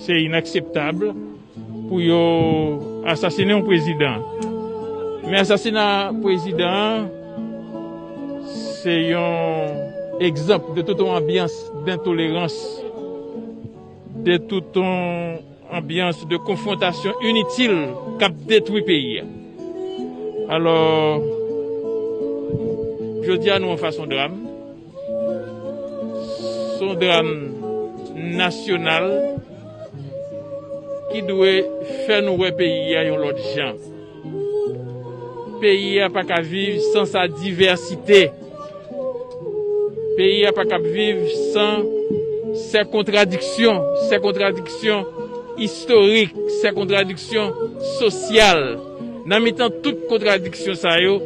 Se inakseptab pou yo asasine yon prezidan. Men asasina prezidan an se yon egzanp de tout yon anbyans dentolerans, de tout yon. Anbyans de konfwontasyon initil k ap detwi peyi a. Alò, jodi a nou anfas yon dram. Se yon dram nasyonal ki dwe fè nou wè peyi a yon lòt jan. Peyi a pa ka viv san sa divèsite. Peyi a pa kab viv san sè kontradiksyon, sè kontradiksyon istorik, sè kontradiksyon sosyal. Nan mitan tout kontradiksyon sa yo,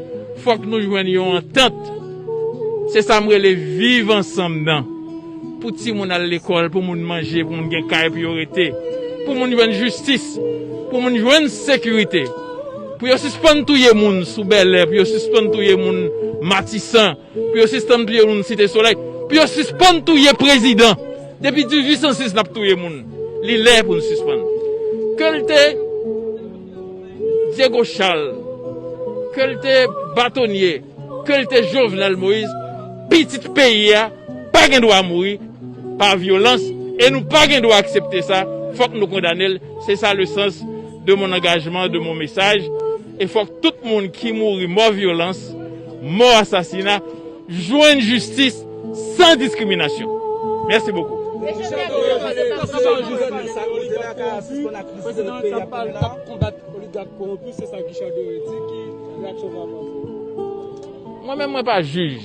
fòk nou jwenn yon antant. Se sa m rele viv ansanm nan. Pou timoun al lekòl, pou moun manje, pou moun gen kay pou yo rete, pou moun jwenn jistis, pou moun jwenn sekirite, pou yo sispann touye moun sou Bèlè, pou yo sispann touye moun Matisan, pou yo sistann touye moun Site Solèy, pou yo sispann touye prezidan. Depi 1806 n ap touye moun. Li lè pou n sispann. Ke l te Dyego Chal, ke l te batonye. Kel te jovenel moise pitit peyi a pa gen dwa mouri pa vyolans e nou pa gen dwa aksepte sa fok nou kondanel se sa le sans de mon angajman de mon mesaj e fok tout moun ki mouri mò vyolans mò asasina jwenn jistis san diskriminasyon mèsi bokou. Mesye Pierre Jean Joseph ap pran pawòl pou reponn. Oligat koronpi se sa Guichard Doré di ki reaksyon sa panse. Mwen menm mwen pa jij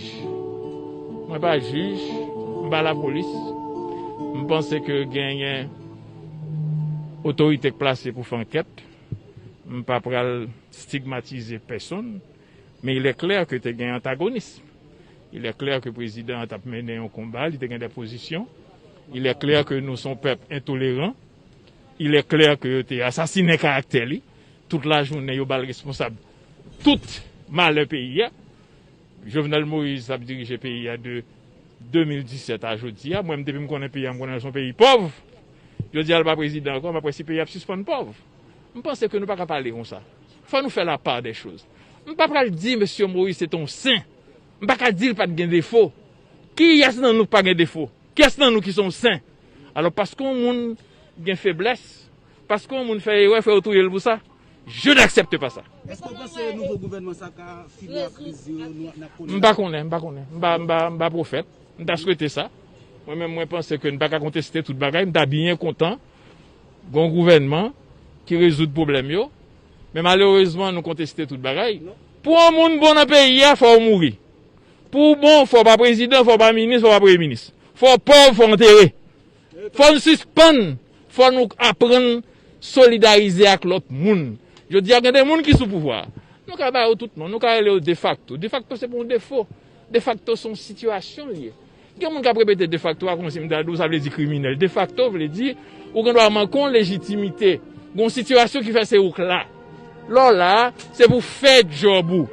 mwen pa jij m pa lapolis m panse ke genyen otorite k plase pou fè ankèt m pa pral stigmatize pèsonn men il est clair ke te gen antagonism il est clair ke prezidan an tap mennen yon konba li te gen dè pozisyon il est clair ke nou son pèp entoleran Il est clair ke yo te asasinen karaktè li, tout lajounen yo ba l responsab tout malè peyi a. Jovenel Moïse ap dirije peyi a de 2017 a jodi a. Mwen menm depi m konnen peyi a m konnen l s on peyi pòv. Jodi a l pa prezidan ankò, m ap wè si peyi a ap sispann pòv. M panse ke nou pa ka pale konsa. Fò nou fè la part des choses. M pa pral di mesye Moïse se te yon sen. M pa ka di l pa t gen defo. Kiyès nan nou k pa gen defo? Kyès nan nou ki se yon sen? Alò paske yon moun gen feblès, paske yon moun fè erè fè yo touye l pou sa? Je n'accepte pas ça! Eske w panse nouvo gouvènman sa ka fini ak kriz yo nou ap konnen la? M pa konnen, m pa konnen. M pa, m pa, m pa pwofèt. M ta swete sa. Mwen menm mwen panse ke n pa ka konteste tout bagay. M ta byen kontan gen yon gouvènman ki rezoud pwoblèm yo. Men malerezman nou konteste tout bagay. Pou yon moun bon nan peyi a, fò w mouri. Pou w bon, fò w pa prezidan, fò w pa minis, fò w pa premye minis. Fò w pòv, fò w antere. Fò n sispann, fò nou aprann solidarize ak lòt moun. Jodi a gen de moun ki sou pouvwa a. Nou ka ba yo tout non. Nou ka rele yo defakto. Defakto se pa yon defo. Defakto se yon sitiyasyon li ye. Gen moun k ap repete defakto a kòmsi m ta di w sa vle di kriminèl. Defakto vle di ou gen dwa manke yon lejitimite. Gen yon sitiyasyon ki fè se ou k la. Lè w la a, se pou w fè djòb ou.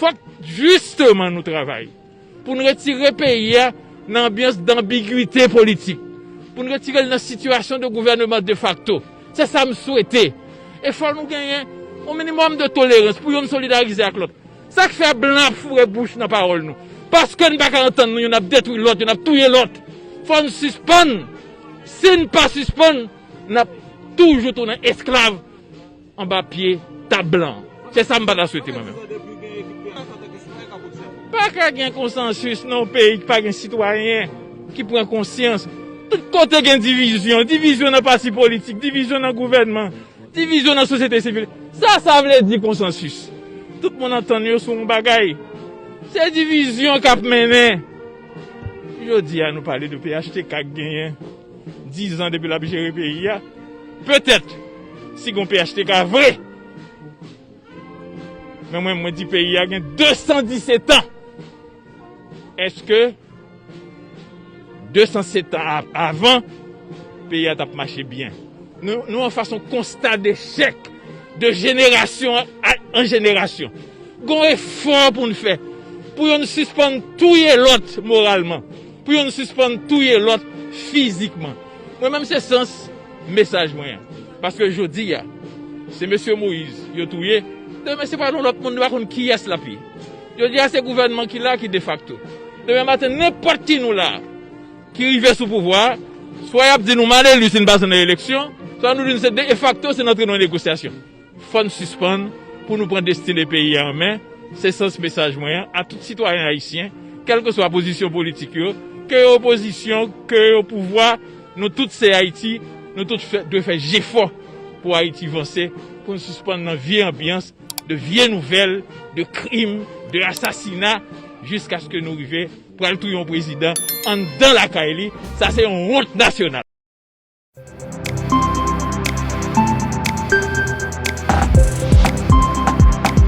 Fòk jisteman nou travay pou n retire peyi a nan anbyans danbigwite politik, pou n retire l nan sitiyasyon de gouvèneman defakto. Se sa m swete. E fòk nou genyen yon minimòm de tolerans pou youn solidarize ak lòt. Sa k fè blan ap foure bouch nan pawòl nou? Paske n pa ka antann nou, youn ap detwi lòt, youn ap touye lòt. Fò n sispann. Si n pa sispann, n ap toujou tounen esklav anba pye tab blan an. Se sa m pa ta swete mwen menm. Pa ka gen konsansis nan yon peyi ki pa gen sitwayen ki pran konsyans. Tout kote gen divizyon, divizyon nan pati politik, divizyon nan gouvènman, Divizyon nan sosyete sivil. Sa sa vle di konsansis? Tout moun antann yo sou yon bagay. Se divizyon k ap mennen. Jodi a nou pale de phtk k genyen dizan depi l ap jere peyi a. Petèt si gon phtk vre. Men mwen mwen di peyi a gen 217 an. Eske 207 an avan peyi a tap mache byen? Nou an fas yon konsta dechèk de jenerasyon an jenerasyon. Gon efò pou n fè pou yo n sispann touye lòt moralman, pou yo n sispann touye lòt fizikman. Mwen menm se sans mesaj mwen an. Paske jodi a se Mesye Moise yo touye, demen se pa yon lòt moun nou pa konn kiyès lap ye. Jodi a se gouvènman ki la ki defakto. Demen maten nenpòt ki nou la a ki rive sou pouvwa a, swa y ap di nou maleli si n pase nan eleksyon, swa nou di nou se defakto si n antre nan negosyasyon. Fò n sispann pou nou pran destine peyi a an men, se sans mesaj mwen an a tout sitwayen ayisyen, kèlkeswa pozisyon politik yo, ke yo opozisyon, ke yo pouvwa, nou tout se Ayiti, nou tout dwe fè jefò pou Ayiti vanse, pou n sispann nan vye anbyans. De vye nouvèl, de krim, de asasina, jiskaske nou rive pral touye yon prezidan anndan lakay li, sa se yon wont nasyonal.